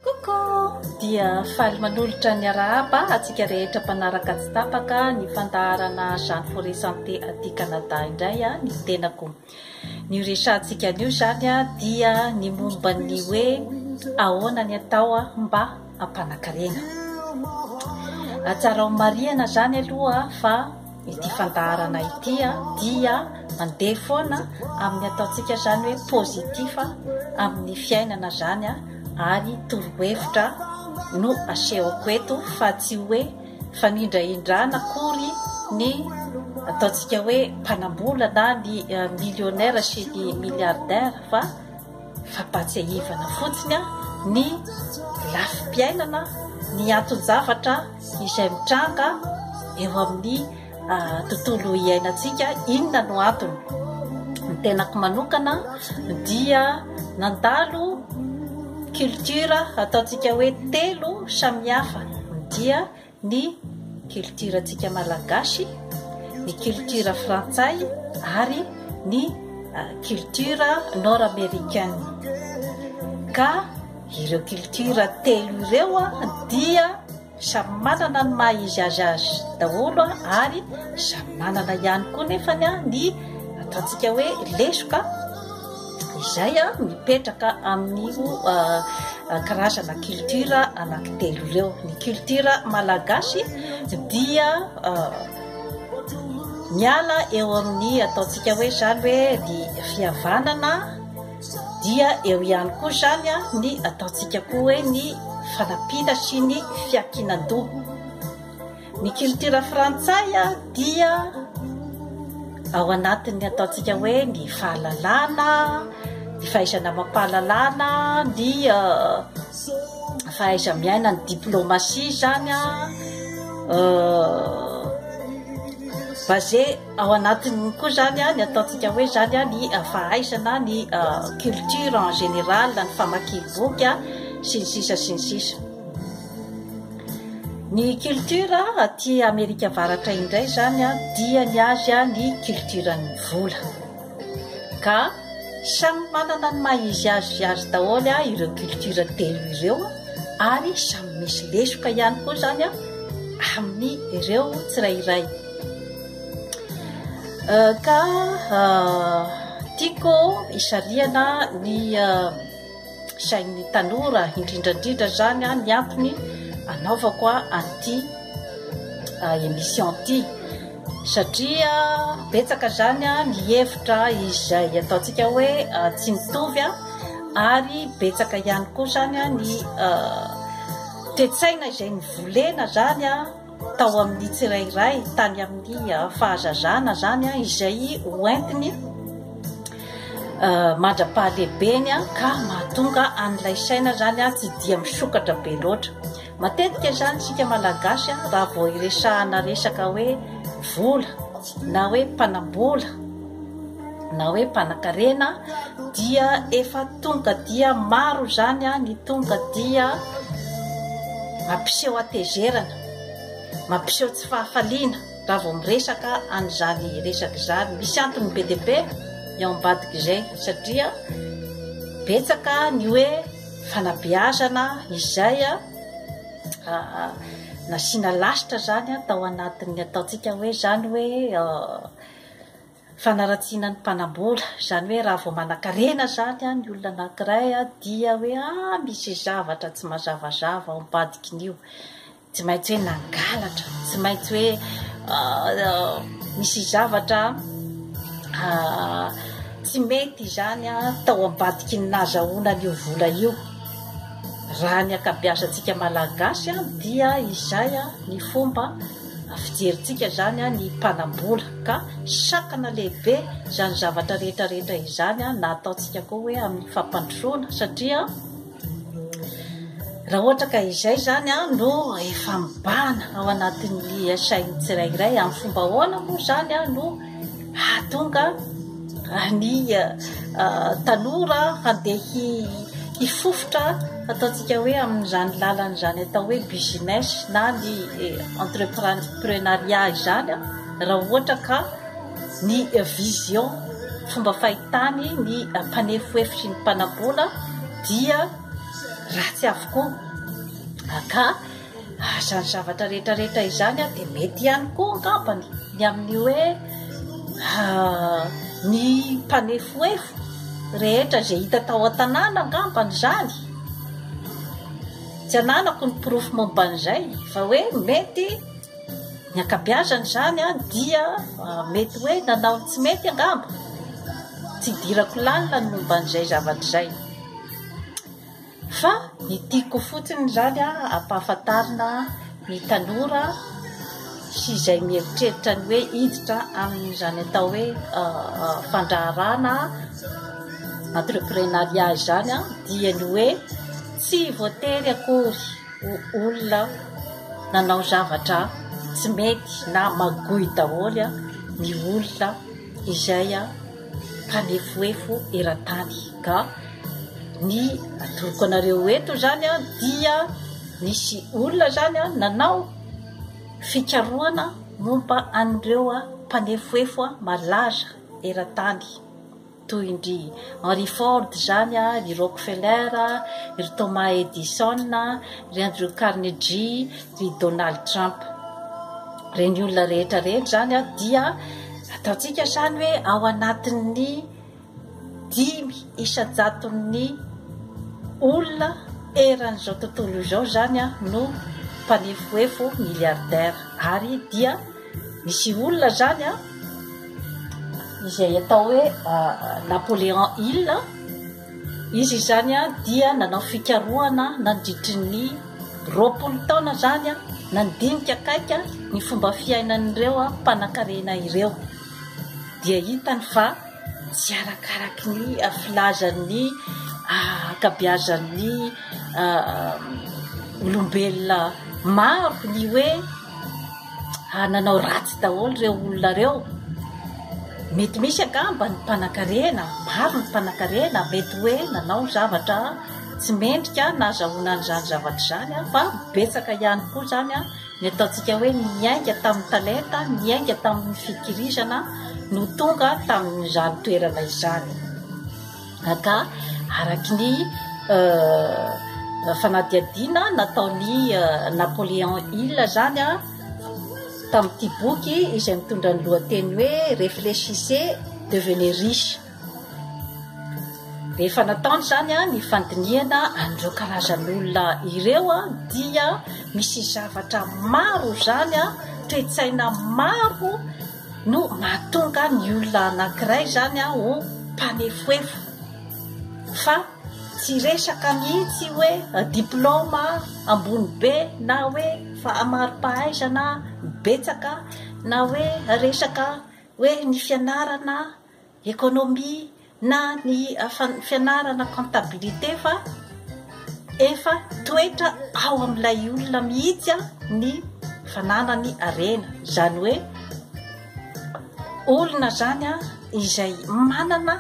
Coucou! Dia faly manolotra ny arahaba antsika rehetra mpanaraka tsy tapaka ny fandaharana Jeanne Forêt Santé aty Canada indray ny tenako. Ny horesahantsika anio izany dia ny momba ny hoe ahoana ny atao mba hampanakarena. Atsarao marihana izany aloha fa ity fandaharana ity dia mandeha foana amin'ny ataontsika izany hoe positif amin'ny fiainana izany ary torohevitra no asehoko eto fa tsy hoe fanindrahindrana akory ny ataontsika hoe mpanambola na ny millionnaire sy ny milliardaire fa Fampahatsiahivana fotsiny ny lafim-piainana, ny anton-javatra izay mitranga eo amin'ny tontolo iainantsika. Inona no antony? Ny tenako manokana dia nandalo culture ataontsika hoe telo samihafa dia ny kiltiorantsika malagasy, ny kiltiora frantsay ary ny kiltiora nord amerikana. Ka ireo kiltiora telo ireo dia samy manana ny maha izy azy azy daholo ary samy manana ihany koa nefa ny atantsika hoe lesoka izay mipetraka amin'io karazana culture anankitelo ireo. Ny culture malagasy dia miala eo amin'ny ataontsika hoe izany hoe ny fihavanana dia eo ihany koa izany ny ataontsika koa hoe ny fanampiana sy ny fiankinan-doha. Ny kiltiora frantsay dia ao anatin'ny ataontsika hoe ny fahalalana, ny fahaizana amam-pahalalana, ny fahaiza-miaina, ny diplomasia izany basé ao anatin'ny koa izany ny ataontsika hoe izany ny fahaizana, ny culture en général, ny famakiam-boky sy ny sisa sy ny sisa. Ny culture aty Amerika Avaratra indray izany dia ny azy ny culture-n'ny vola. Ka samy manana ny maha izy azy azy daholo ireo culture telo ireo ary samy misy lesoka ihany koa izany amin'ny ireo tsirairay. Euh, ka euh, tiako hisarihana ny euh, sain'ny tanora indrindra indrindra zany a ny antony anaovako a an'ity émission ty satria betsaka zany a ny hevitra izay ataontsika hoe tsy mitovy a ary betsaka ihany koa zany a ny tetsaina izay ny volena zany a tao amin'ny tsirairay tany amin'ny ah, fahazazana zany a ah, izay hoentiny ah, mandra-pahalehibeny a ka mahatonga an'ilay saina zany a tsy dia misokatra be loatra matetika zany tsika malagasy a raha vao iresahana resaka hoe vola na hoe mpanambola na hoe mpanakarena dia efa tonga dia maro izany ny tonga dia mampiseho atezerana, mampiseho tsy fahafaliana raha vao miresaka an'izany resaka izany. Misy antony be dia be eo ambadik'izay satria betsaka ny hoe fanabeazana izay nasiana lasitra izany tao anatin'ny ataontsika hoe izany hoe Fanaratsiana ny mpanambola, izany hoe raha vao manakarena izany ny olona anankiray dia hoe ah misy zavatra tsy mazavazava ao am-padikiny io, tsy maintsy hoe nangalatra, tsy maintsy hoe misy zavatra tsy mety izany tao am-badiky ny nazahoana an'io vola io. Raha ny ankabeazantsika malagasy dia izay ny fomba fijerintsika izany ny mpanam-bola ka sakana lehibe izany zavatra rehetra rehetra izany na ataontsika koa hoe amin'ny fampandrosoana satria raha ohatra ka izay izany an no efa mibahana ao anatin'ny sain'ny tsirairay amin'ny fomba ahoana moa izany an no hahatonga ny tanora handeha hifofotra ataontsika hoe amin'izany lalana izany atao hoe business na ny entreprenariat izany raha ohatra ka ny vision fomba fahitany ny mpanefoefitry ny mpanambola dia ratsy avokoa ka Ary izany zavatra rehetra rehetra izany dia mety ihany koa angambany ny amin'ny hoe ny mpanefoefo rehetra izay hita tao an-tanàna angambany izany. Tsy ananako ny porofo momba an'izay fa hoe mety ny ankabeazany izany dia mety hoe nanao ny tsy mety angamba. Tsy idirako lalina ny momba an'izay zavatra izay. Fa ny tiako fotsiny izany ampahafantarina ny tanora sy izay mieritreritra ny hoe hiditra amin'izany atao hoe fandraharahana entreprenariat izany dia ny hoe tsy voatery akory ho olona nanao zavatra tsy mety na magoy daholo ny olona izay mpanefoefo eran-tany ka ny atoroko anareo eto izany a dia nisy olona izany a nanao fikarohana momba an'ireo a mpanefoefo a malaza eran-tany toy indry Henry Ford izany a ry Rockefeller ry Thomas Edison ry Andrew Carnegie Ry Donald Trump. Ireny olona rehetra ireny izany dia ataontsika izany hoe ao anatin'ny dimy isan-jaton'ny olona eran'izao tontolo izao izany no mpanefoefo milliardaire ary dia misy olona izany a izay atao hoe Napoléon Hill Izy izany dia nanao fikarohana nandritry ny roapolo taona izany nandinika akaiky ny fomba fiainan'ireo mpanankarena ireo. Dia hitany fa tsy arakaraky ny filazan'ny ankabeazan'ny olombelona maro ny hoe Ary nanao ratsy daholo ireo olona ireo. Mety misy angamba ny mpanankarena, maro ny mpanankarena, mety hoe nanao zavatra tsy mendrika nahazahoana an'izany zavatra izany, fa betsaka ihany koa izany ny ataontsika hoe niainga tamin'ny talenta, niainga tamin'ny fikirizana no tonga tamin'izany toerana izany. Gaga araky ny fanadihadiana nataon'i Napoléon Hill zany a tamin'ity boky izay mitondra ny lohateny hoe Réfléchissez, devenez riche. Rehefa nataony zany a ny fandinihana an'ireo karazan'olona ireo a dia misy zavatra maro zany a toe-tsaina maro no mahatonga ny olona anankiray izany an ho mpanefoefo fa tsy resaka mihitsy hoe diplaoma ambony be na hoe fahamarim-pahaizana betsaka na hoe resaka hoe ny fianarana Ekonomia na ny fianarana comptabilité fa efa toetra ao amin'ilay olona mihitsy ny fananany harena. Izany hoe olona izany izay manana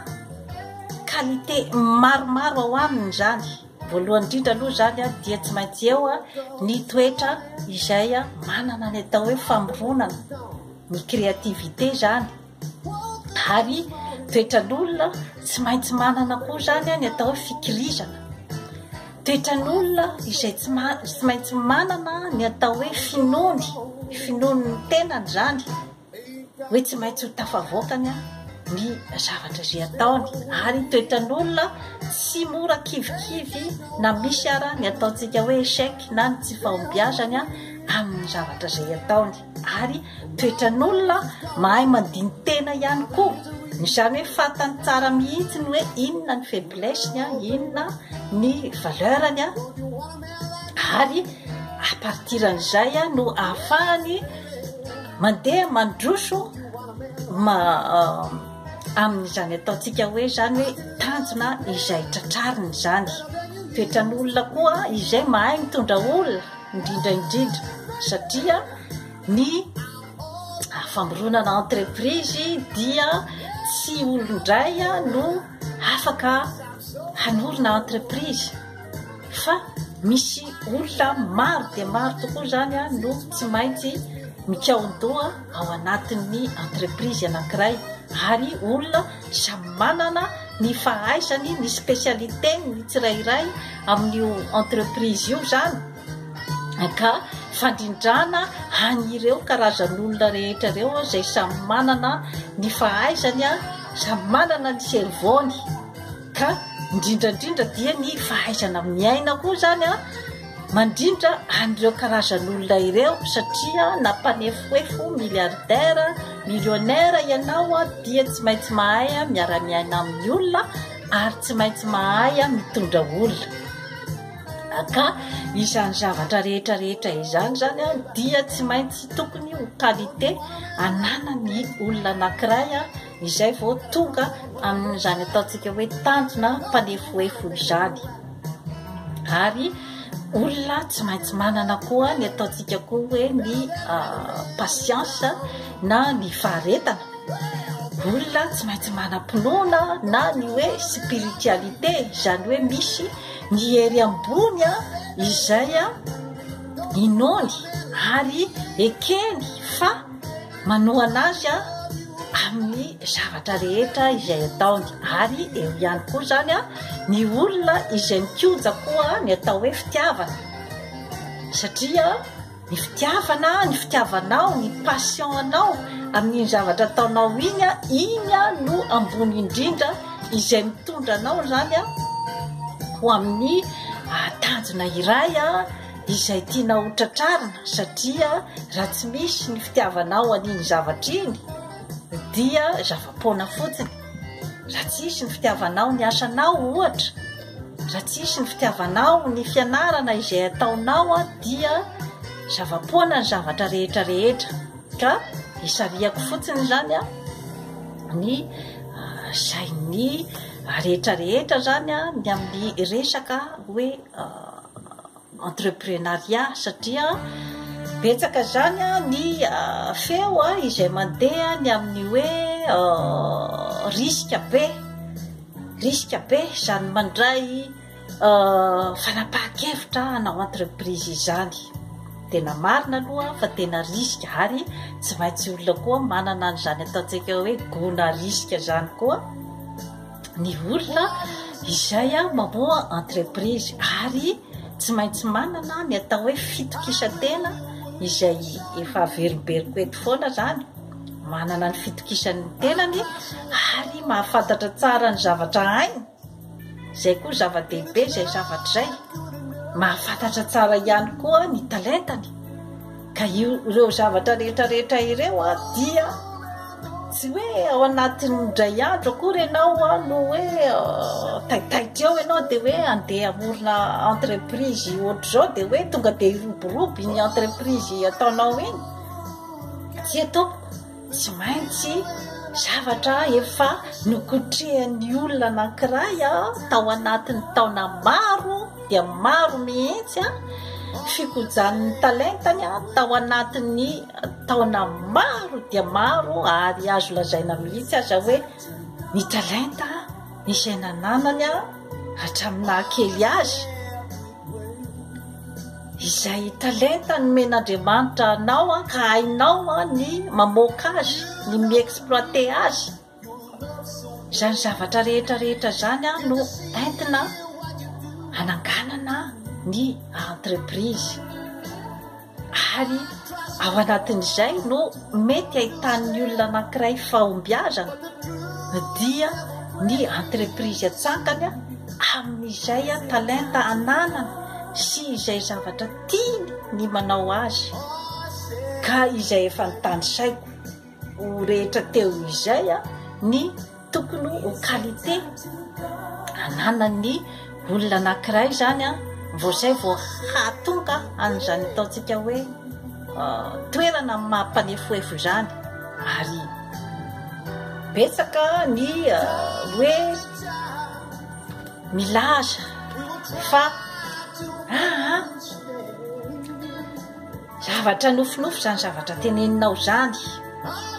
qualité maromaro ao aminy izany. Voalohany indrindra aloha izany dia tsy maintsy eo ny toetra izay manana ny atao hoe famoronana, ny créativité izany. ary toetran'olona tsy maintsy manana koa zany any atao hoe fikirizana toetran'olona izay tsy ma tsy maintsy manana ny atao hoe finoany finoany ny tenany zany hoe tsy maintsy ho tafavoakany a ny zavatra izay ataony ary toetran'olona tsy mora kivikivy na misy ara ny ataontsika hoe échec na ny tsy fahombiazany a amin'ny zavatra izay ataony ary toetran'olona mahay mandini-tena ihany koa izany hoe fantany tsara mihitsy ny hoe inona ny faiblesse-ny a inona ny valeur-ny a ary à partir an'izay a no ahafahany mandeha mandroso ma amin'izany ataontsika hoe izany hoe tanjona izay tratrariny izany toetran'olona koa izay mahay mitondra olona indrindra indrindra satria ny famboronana entreprise dia tsy olondray no afaka hanorina entreprise fa misy olona maro dia maro tokoa zany a no tsy maintsy mikaondoha ao anatin'ny entreprise anankiray ary olona Samy manana ny fahaizany, ny spécialité-ny ny tsirairay amin'io entreprise io izany, ka fandrindrana an'ireo karazan'olona rehetra ireo izay samy manana ny fahaizany, samy manana ny cerveau-ny, ka indrindra indrindra dia ny fahaizana miaina koa izany. Mandrindra an'ireo karazan'olona ireo satria na mpanefoefo, milliardaire, millionnaire ianao dia tsy maintsy mahay miara-miaina amin'ny olona ary tsy maintsy mahay mitondra olona. Ka izany zavatra rehetra rehetra izany izany dia tsy maintsy tokony ho qualité ananan'ny olona anankiray izay vao tonga amin'izany ataontsika hoe tanjona mpanefoefo izany ary olona tsy maintsy manana koa ny ataontsika koa hoe ny ah, pasiansa na ny faharetana olona tsy maintsy manam-pinoana na ny hoe spiritualité izany hoe misy ny hery ambony a izay a inoany ary ekeny fa Manohana azy amin'ny zavatra rehetra izay ataony ary eo ihany koa izany ny olona izay mikoja koa ny atao hoe fitiavana satria ny fitiavana ny fitiavanao ny passion anao amin'iny zavatra ataonao iny a iny a no ambony indrindra izay mitondra anao izany a ho amin'ny ah, tanjona iray a ah, izay tianao ho tratrarina satria raha tsy misy ny fitiavanao an'iny zavatra iny dia zava-poana fotsiny raha tsy hisy ny fitiavanao ny asanao ohatra raha tsy hisy ny fitiavanao ny fianarana izay ataonao a dia zava-poana ny zavatra rehetra rehetra ka isariako fotsiny zany a ny ah, sain'ny rehetra rehetra zany a ny amin'ny resaka hoe ah, entreprenariat satria betsaka izany ny feo izay mandeha ny amin'ny hoe risque be risque be izany mandray fanapahan-kevitra hanao entreprise izany tena marina aloha fa tena risque ary tsy maintsy olona koa manana an'izany ataontsika hoe gona risque izany koa ny olona izay mamoha entreprise ary tsy maintsy manana ny atao hoe fitokisan-tena izay efa averimberiko eto foana izany manana ny fitokisan'ny tenany ary mahafantatra tsara ny zavatra hainy izay koa zava-dehibe izay zavatra izay mahafantatra tsara ihany koa ny talentany Ka ireo zavatra rehetra rehetra ireo a dia tsy hoe ao anatin'ny indray andro akory ianao a no hoe taitaitra eo ianao dia hoe andeha amorona entreprise ohatr'izao dia hoe tonga dia hiroborobo iny entreprise ataonao iny tsy etompoko Tsy maintsy zavatra efa nokotrehan'ny olona anankiray tao anatin'ny taona maro dia maro mihitsy fikojan'ny talentany tao anatin'ny taona maro dia maro ary azo lazaina mihitsy aza hoe ny talenta izay nananany hatramin'ny naha kely azy. Izay talenta nomen'Andriamanitra anao an, ka hainao an ny mamoaka azy, ny mi-exploiter azy. Izany zavatra rehetra rehetra izany an no entina hananganana ny entreprise. ary ao anatin'izay no mety hahitan'ny olona anankiray fahombiazana dia ny entreprise atsangany amin'izay talenta ananany sy izay zavatra tiany ny manao azy ka izay efa nitanisaiko ho rehetra teo izay ny tokony ho qualité ananan'ny olona anankiray izany a vao izay vao hahatonga an'izany ataontsika hoe toerana mampanefoefo izany ary betsaka ny hoe milaza fa aa Zavatra nofinofy izany zavatra teneninao izany.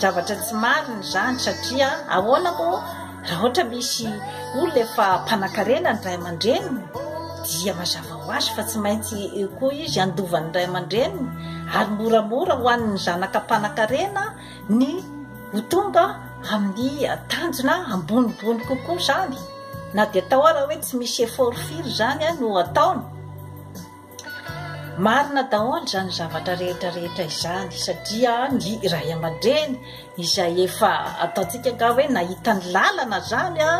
Zavatra tsy marina izany satria ahoana moa raha ohatra misy olona efa mpanakarena ny ray aman-dreniny dia mazava ho azy fa tsy maintsy koa izy handova ny ray aman-dreniny ary moramora ho an'ny zanaka mpanakarena ny ho tonga amin'ny tanjona ambonimbony kokoa izany. Na dia atao ara hoe tsy misy effort firy izany no ataony. Marina daholo izany zavatra rehetra rehetra izany satria ny ray aman-dreny izay efa ataontsika nga hoe nahita ny lalana zany a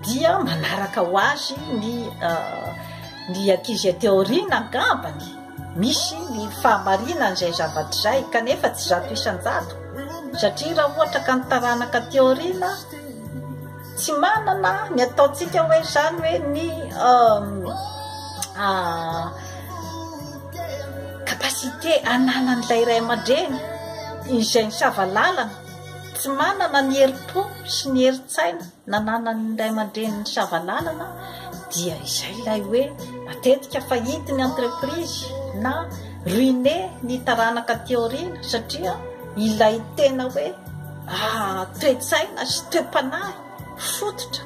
dia manaraka ho azy ny ah, ny ankizy aty aoriana angambany misy ny fahamarinana izay zavatra izay kanefa tsy zato isan-jato satria raha ohatra ka ny taranaka aty aoriana Tsy manana ny ataontsika hoe izany hoe ny capacité ananan'ilay iray aman-dreny izay ny savalalana tsy manana ny herim-po sy ny herin-tsaina nananan'ny iray aman-dreny ny savalalana dia izay ilay hoe matetika fahity ny entreprise na ruine ny taranaka aty aoriana satria ilay tena hoe toe-tsaina sy toe-panahy fototra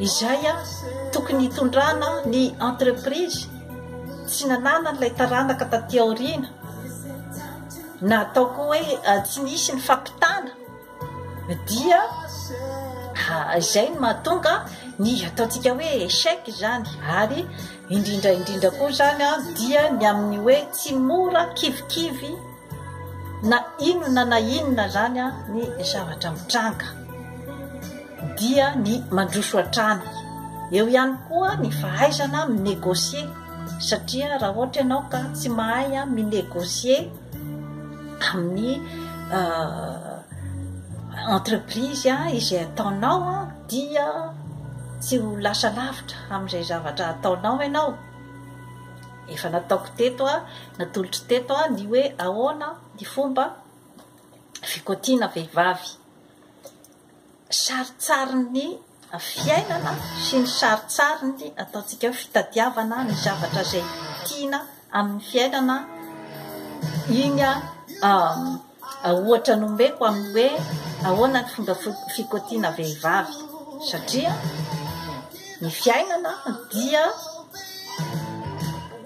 izay tokony hitondrana ny entreprise tsy nananan'ilay taranaka taty aoriana na ataoko hoe eh, tsy nisy ny fampitana dia ah, izay no mahatonga ny ataontsika hoe échec izany ary indrindra indrindra koa izany a dia ny amin'ny hoe tsy mora kivikivy Na inona na inona azany ny zavatra mitranga dia ny mandroso hatrany. Eo ihany koa ny fahaizana mi-negocier satria raha ohatra ianao ka tsy mahay mi-negocier amin'ny entreprise izay ataonao dia tsy ho lasa lavitra amin'izay zavatra ataonao ianao. Efa nataoko teto, natolotro teto ny hoe ahoana ny fomba fikoatiana vehivavy, sarintsarin'ny fiainana sy ny sarintsarin'ny ataontsika hoe fitadiavana ny zavatra izay tiana amin'ny fiainana, iny Ohatra nomeko amin'ny hoe ahoana ny fomba fikotiana vehivavy satria ny fiainana dia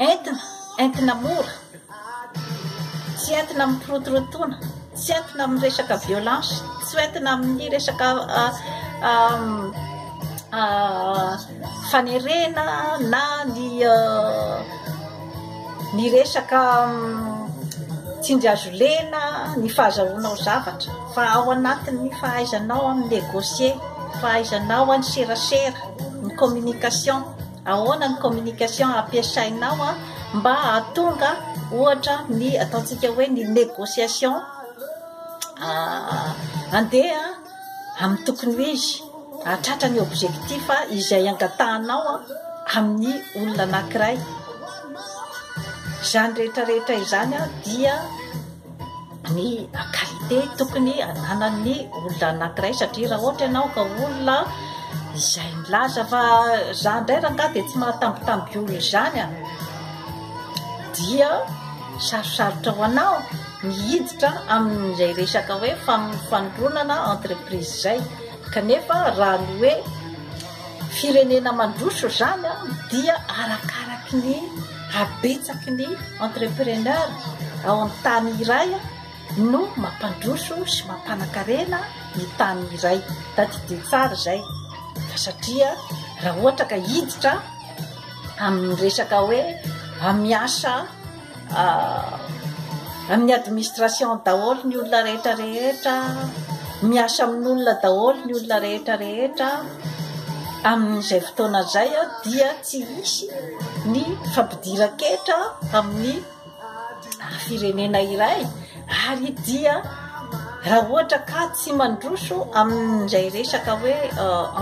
entina entina mora tsy entina amin'ny pirotorotoana tsy entina amin'ny resaka violence tsy entina amin'ny resaka ah, ah, ah, fanerena na ny ny resaka tsindry azo lena ny fahazahoanao zavatra fa ao anatin'ny fahaizanao amin'ny négocier fahaizanao any serasera ny communication ahoana ny communication ampiasainao a mba atonga ohatra ny ataontsika hoe ny négociation andeha amin'ny tokony ho izy, hahatratra ny objectif izay angatahanao amin'ny olona anankiray. Izany rehetra rehetra izany dia ny qualité tokony ananan'ny olona anankiray satria raha ohatra ianao ka olona izay milaza fa za indray rangaha dia tsy mahatambitamby olona izany dia sarosarotra ho anao. mihiditra amin'izay resaka hoe famoronana entreprise izay kanefa raha ny hoe firenena mandroso izany a dia arakaraky ny habetsaky ny entrepreneur ao amin'ny tany iray no mampandroso sy mampanakarena ny tany iray tadidio tsara izay fa satria raha ohatra ka hiditra amin'ny resaka hoe amiasa Amin'ny administration daholo ny olona rehetra rehetra, miasa amin'olona daholo ny olona rehetra rehetra, amin'izay fotoana izay dia tsy hisy ny fampidiran-ketra amin'ny firenena iray. Ary dia raha ohatra ka tsy mandroso amin'izay resaka hoe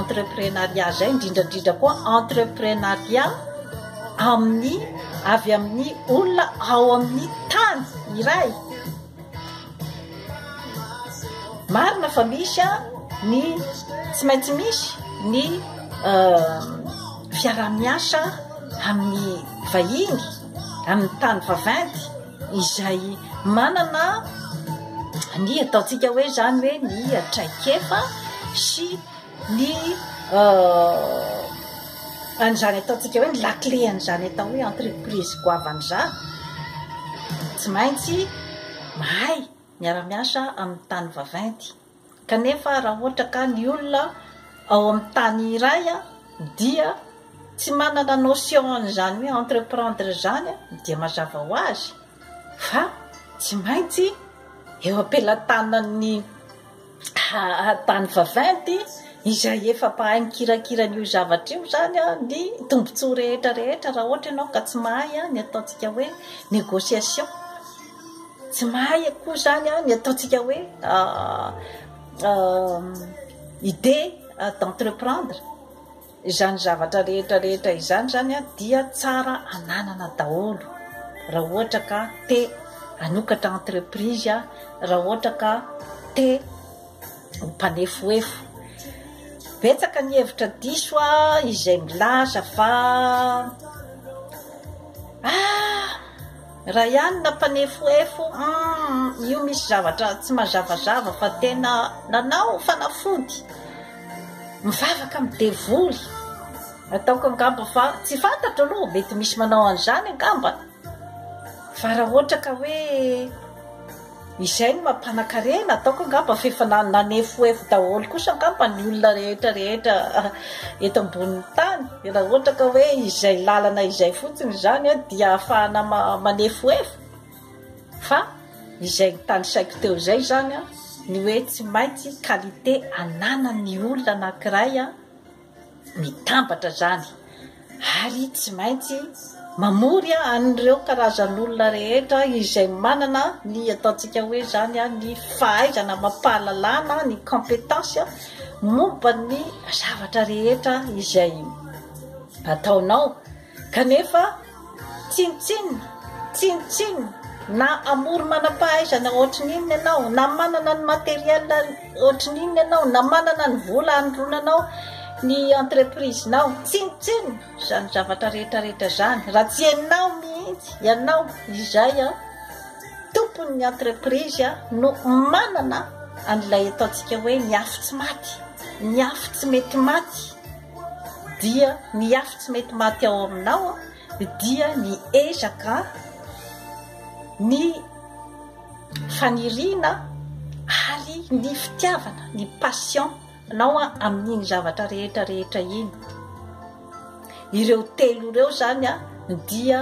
entreprenariat izay, indrindra indrindra koa entreprenariat amin'ny avy amin'ny olona ao amin'ny tany iray. Marina fa misy a ny tsy maintsy misy ny fiaraha-miasa amin'ny vahiny, amin'ny tany vaventy. izay manana ny ataontsika hoe izany hoe ny traikefa sy ny euh, an'izany ataontsika hoe ny lakle an'izany atao hoe entreprise goavan'izany tsy maintsy mahay miara-miasa amin'ny tany vaventy Kanefa raha ohatra ka ny olona ao amin'ny tany iray dia tsy manana notion an'izany hoe entreprendre izany dia mazava ho azy fa tsy maintsy eo am-pelatanan'ny tany vaventy izay efa mpahay mikirakira an'io zavatra io izany ny tombontsoa rehetra rehetra raha ohatra ianao ka tsy mahay ny ataontsika hoe négociation. Tsy mahay akory zany an, ny ataontsika hoe idée d'entreprendre izany zavatra rehetra rehetra izany zany an, dia tsara ananana daholo raha ohatra ka te hanokatra entreprise an, raha ohatra ka te ho mpanefoefo. Betsaka ny hevitra diso an, izay milaza fa ah. Ryan nampanefoefo umm io misy zavatra tsy mazavazava fa tena nanao fanafody mivavaka amin'ny devoly ataoko angamba fa tsy fantatro aloha mety misy manao an'izany angamba fa raha ohatra ka hoe Izay no maha mpanakarena ataoko angamba fa efa nanefoefo daholo kosa angamba ny olona rehetra rehetra eto ambonin'ny tany raha ohatra ka hoe izay lalana izay fotsiny izany a dia ahafahana manefoefo fa izay nitanisaiko teo izay izany a ny hoe tsy maintsy qualité ananan'ny olona anankiray a Mitambatra izany ary tsy maintsy mamory an'ireo karazan'olona rehetra izay manana ny ataontsika hoe izany ny fahaizana amam-pahalalana, ny compétence momba ny zavatra rehetra izay ataonao Kanefa, tsinontsinona, tsinontsinona, na hamory manam-pahaizana hoatry ny inona ianao, na manana ny matériel hoatry ny inona ianao, na manana ny vola hanondronanao ny entreprise-nao, tsinontsinona izany zavatra rehetra rehetra izany raha tsy ianao mihitsy, ianao izay tompon'ny entreprise no manana an'ilay ataontsika hoe ny afo tsy maty, ny afo tsy mety maty. dia ny afo tsy mety maty ao aminao dia ny ezaka ny faniriana ary ny fitiavana ny passion nao a amin'iny zavatra rehetra rehetra iny ireo telo ireo zany a dia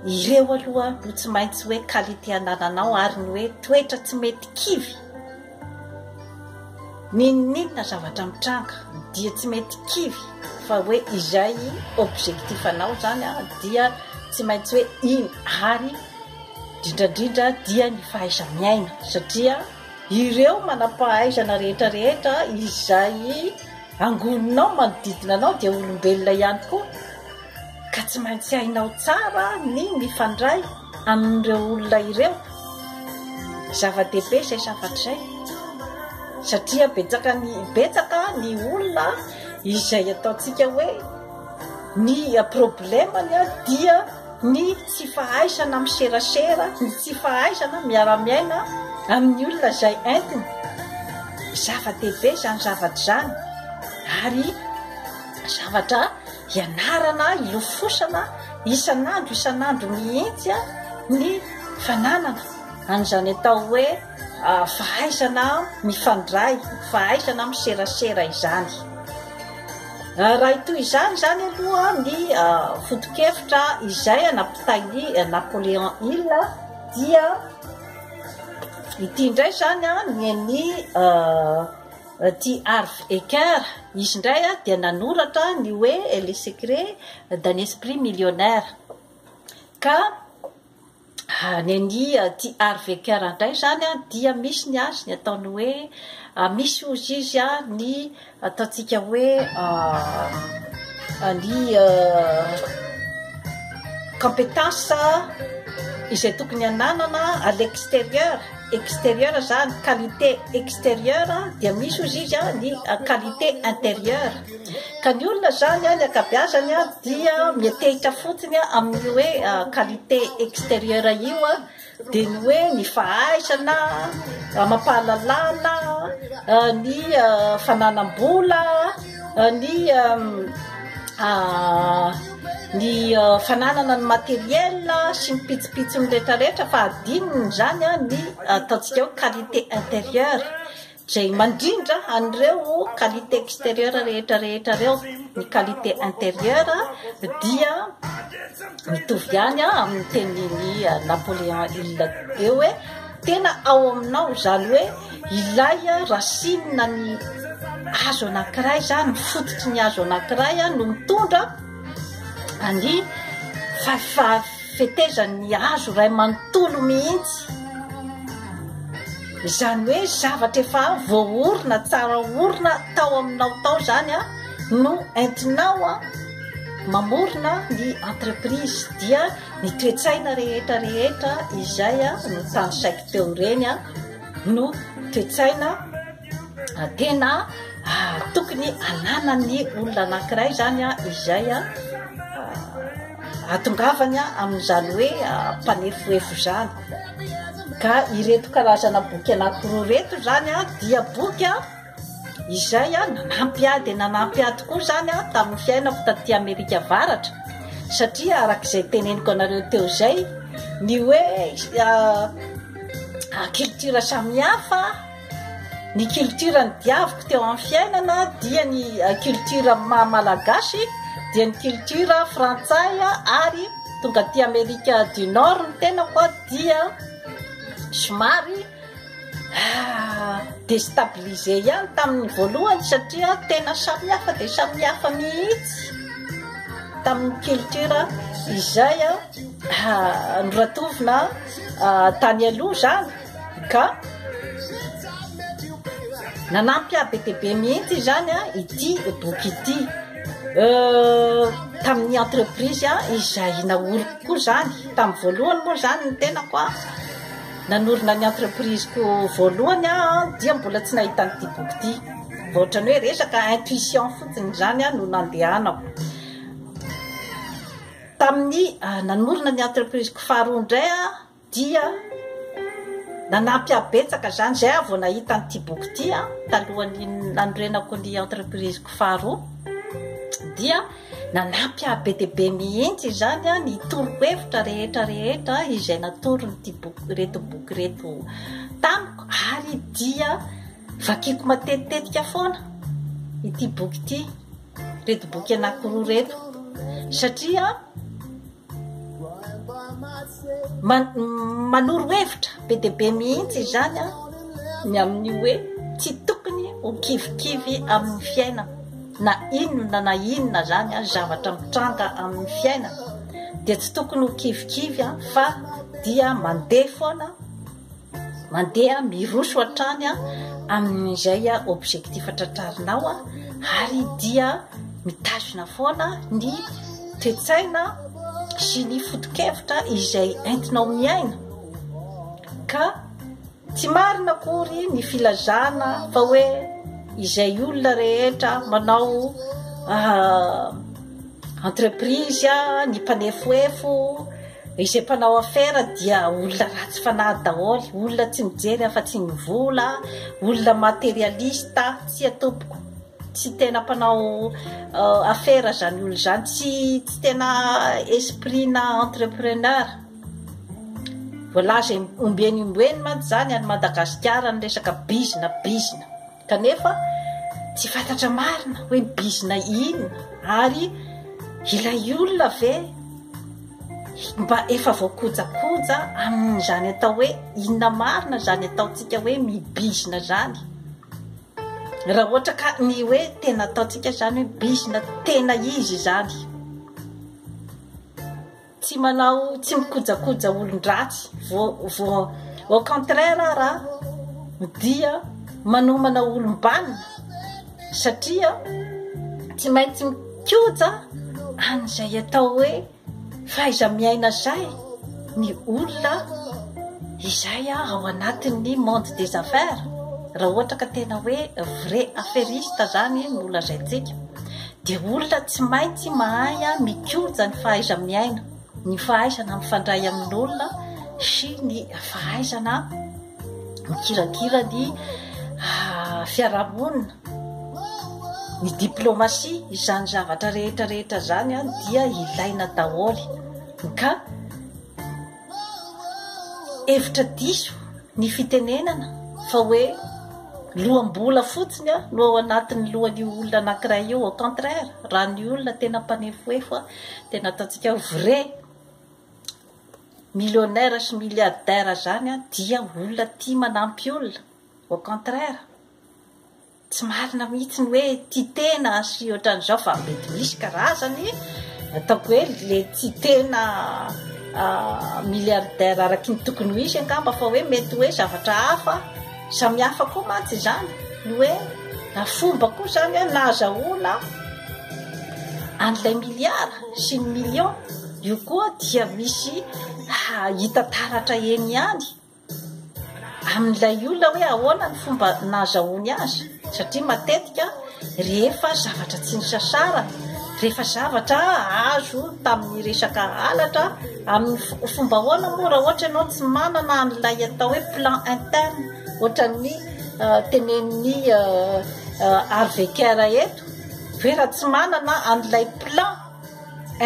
ireo aloha no tsy maintsy hoe qualité anananao ary ny hoe toetra tsy mety kivy N'inon'inona zavatra mitranga dia tsy mety kivy fa hoe izay objectif anao zany an dia tsy maintsy hoe iny ary drindrandrindra dia ny fahaiza-miaina satria ireo manam-pahaizana rehetra rehetra izay Angoninao manodidina anao dia olombelona ihany koa ka tsy maintsy hainao tsara ny mifandray amin'ireo olona ireo. Zava-dehibe izay zavatra izay satria betsaka ny betsaka ny olona izay ataontsika hoe Ny problemany ary dia ny tsy fahaizana miserasera, ny tsy fahaizana miara-miaina amin'ny olona izay entiny. Zava-dehibe izany zavatra izany ary zavatra ianarana, ilofosana isan'andro isan'andro mihitsy ny fananana an'izany atao hoe fahaizana mifandray, fahaizana miserasera izany. Raha hitohy izany izany aloha ny foto-kevitra izay anapitain'i Napoléon Hill dia ity indray izany ny an'i T. Harv Eker, izy indray dia nanoratra ny hoe Les secrets d'un esprit millionnaire ka Any ania aty Arvika randray izany an dia misy ny azy ny ataony hoe misy hozy izy an ny ataontsika hoe ny competence izay tokony hananana à l'exterieur. extérieur za ny qualité extérieur dia misy ozy izy a ny qualité intérieur ka ny olona zany a ny akabeazany a dia mietehitra fotsiny a amin'ny hoe qualité extérieur io a dia ny hoe ny fahaizana amapahalalana ny fananam-bola ny ny fananana ny matériel sy ny pitsopitsony rehetrarehetra fa adinony izany ny ataontsika hoe qualité intérieure izay mandrindra an'ireo qualité extérieure rehetra rehetra ireo ny qualité intérieure dia mitovy ihany amin'ny tenin'i Napoléon Hill teo hoe Tena ao aminao zany hoe ilay racine ny hazo anankiray zany, ny fototry ny hazo anankiray no mitondra ny fetezan'ny hazo iray manontolo mihitsy. Izany hoe zavatra efa voaorina, tsara orina tao aminao tao zany no entinao mamorona ny entreprise dia Ny toe-tsaina rehetra rehetra izay no tanisaiko teo ireny no toe-tsaina tena tokony ananan'ny olona anankiray zany a izay a atongavany a amin'izany hoe mpanefoefo zany ka ireto karazana boky anakiroa reto zany a dia boky a Izay aho nanampy ahy dia nanampy ahy tokoa izany aho tamin'ny fiainako taty Amerika Avaratra satria araka izay teneniko anareo teo izay ny hoe culture samihafa ny culture ny diaviko teo amin'ny fiainana dia ny culture maha-malagasy dia ny culture frantsay ary tonga aty Amerika du Nord ny tenako dia somary Ah, destabilisé ihany tamin'ny voalohany satria tena samy hafa dia samy hafa mihitsy tamin'ny culture izay a ah, noratovina ah, tany aloha zany ka nanampy ahy be dia be mihitsy izany a ity boky ity Euh, tamin'ny entreprise izay naoriko koa zany tamin'ny voalohany moa zany ny tenako a Nanorina ny entreprise-ko voalohany aho dia mbola tsy nahita an'ity boky ity. Vao ohatran'ny hoe resaka intuition fotsiny izany no nandehanako. Tamin'ny ah, nanorina ny entreprise-ko faharoa indray aho dia nanampy ahy betsaka izany izay aho vao nahita an'ity boky ity talohan'ny nanorenako ny entreprise-ko faharoa dia Nanampy ahy be dia be mihitsy izany ny torohevitra rehetra rehetra izay natoron'ity boky ireto boky ireto tamiko ary dia vakiko matetitetika foana ity boky ity reto boky anankiroa reto satria Manoro hevitra be dia be mihitsy izany an, ny amin'ny hoe tsy tokony ho kivikivy amin'ny fiainana, na inona na inona izany ary zavatra mitranga amin'ny fiainana dia tsy tokony ho kivikivy fa dia mandeha foana, Mandeha miroso hatrany amin'izay objectif tratrarinao ary dia mitazona foana ny toe-tsaina sy ny foto-kevitra izay entinao miaina ka tsy marina akory ny filazana fa hoe izay olona rehetra manao entreprise ny mpanefoefo Izay mpanao afera dia olona ratsy fanahy daholo, olona tsy mijery afa-tsy ny vola, olona materialista, tsia tompoko, tsy tena mpanao afera izany olona izany, tsy tsy tena esprit-na entrepreneur. Voalaza ombieny ombieny mantsy izany any Madagasikara ny resaka bizina bizina. Kanefa tsy fantatra marina hoe bizina inona ary ilay olona ve mba efa voakojakoja amin'izany atao hoe inona marina izany ataontsika hoe mibizina izany. Raha ohatra ka ny hoe tena ataontsika izany hoe bizina tena izy izany. Tsy manao tsy mikojakoja olon-dratsy vo vo au contraire ara dia manomana olom-banona satria tsy maintsy mikoja an'izay atao hoe fahaiza-miaina zay ny olona izay ao anatin'ny monde des affaires raha ohatra ka tena hoe vrai affairiste zany no lazaintsika dia olona tsy maintsy mahay mikoja ny fahaiza-miaina, ny fahaizana mifandray amin'olona sy ny fahaizana mikirakira ny ah, fiarahamonina, ny diplomasia, izany zavatra rehetra rehetra izany dia ilaina daholo ka hevitra diso ny fitenenana fa hoe loham-bola fotsiny no ao anatin'ny lohan'io olona anankiray io au contraire raha ny olona tena mpanefoefo tena ataontsika hoe vrai millionnaire sy milliardaire zany dia olona tia manampy olona au contraire Tsy marina mihitsy ny hoe tia tena sy ohatran'izao fa mety misy karazany ataoko hoe le tia tena milliardaire araky ny tokony ho izy angamba fa hoe mety hoe zavatra hafa samy hafa koa mantsy izany ny hoe na fomba koa izany hoe nazahoana an'ilay milliard sy ny million io koa dia misy hita taratra eny ihany amin'ilay olona hoe ahoana ny fomba nazahoany azy satria matetika rehefa zavatra tsy nisasara rehefa zavatra azo tamin'ny resaka alatra amin'ny fomba ahoana moa raha ohatra ianao tsy manana an'ilay atao hoe plan interne ohatran'ny euh, tenen'ny euh, euh, arveker eto hoe raha tsy manana an'ilay plan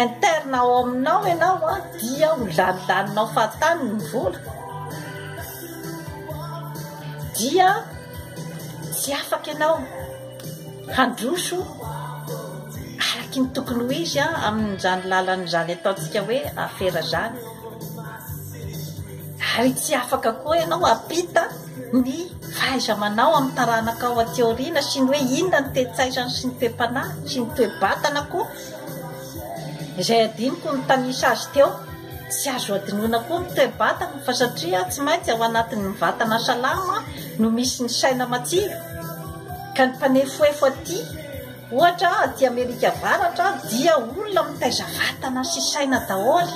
interne ao aminao ianao a dia ho lanilaninao fahatany ny vola dia tsy afaka ianao handroso araky ny tokony ho izy a amin'izany lalan'izany ataontsika hoe afera zany ary tsy afaka koa ianao apita ny fahaiza-manao amin'ny taranakao aty aoriana sy ny hoe inona ny toe-tsaizany sy ny toe-panahiny sy ny toe-batana koa izay adinoko nitanisa azy teo tsy azo adinoana koa ny toe-batana fa satria tsy maintsy ao anatin'ny vatana salama no misy ny saina matsilo ka ny mpanefoefo aty ohatra aty Amerika Avaratra dia olona mitaiza vatana sy saina daholo